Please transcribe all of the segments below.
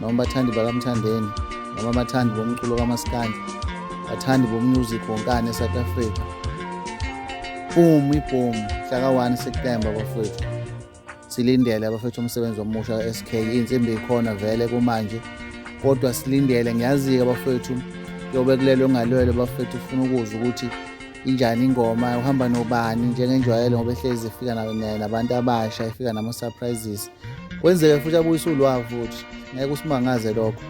noma bathandi bakamthandeni noma bathandi bomculo kamaskandi bathandi bomusic wonkane esouth africa boom iboom hlaka 1 september bafowethu silindele abafethu umsebenzi omusha ka-sk iy'nsimbi ikhona vele kumanje kodwa silindele ngiyazi-ke abafethu yobe kulelo ngalwelo abafethu ufuna ukuzwa ukuthi injani ingoma uhamba nobani njengenjwayelo ngoba ehlezi ifika nabantu abasha ifika nama-surprises kwenzeke futhi abuyise ulwawu futhi ngeke usimangaze lokho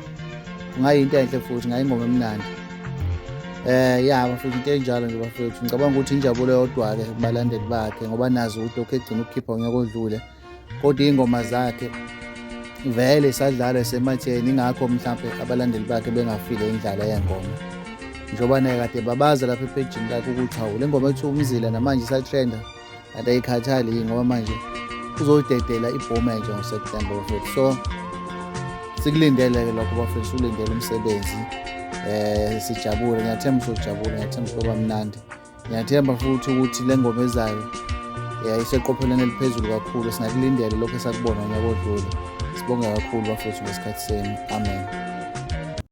kungayinto enhle futhi ngayingoma emnandi eh ya bafethu into enjalo nje bafethu ngicabanga ukuthi injabulo yodwa-ke kubalandeli bakhe ngoba nazi ukuthi lokhu egcina ukukhipha ngeke odlule kodwa iy'ngoma zakhe vele isadlala esematheni ingakho mhlawumbe abalandeli bakhe bengafile indlala yengoma njengoba naye kade babaza lapha epejini lakhe ukuthi hawu le ngoma ethiwa umzila namanje isatrenda kanti ayikhathali ngoba manje uzodedela ibhomu enje ngoSeptember bafethu so sikulindele-ke lokho bafethu siwulindele umsebenzi um sijabule ngiyathemba sojabule ngiyathemba soba mnandi ngiyathemba futhi ukuthi le ngoma ezayo um iseqophelweni eliphezulu kakhulu singakulindele lokho esakubona nyaka odlule sibonge kakhulu bafethu ngesikhathi senu amen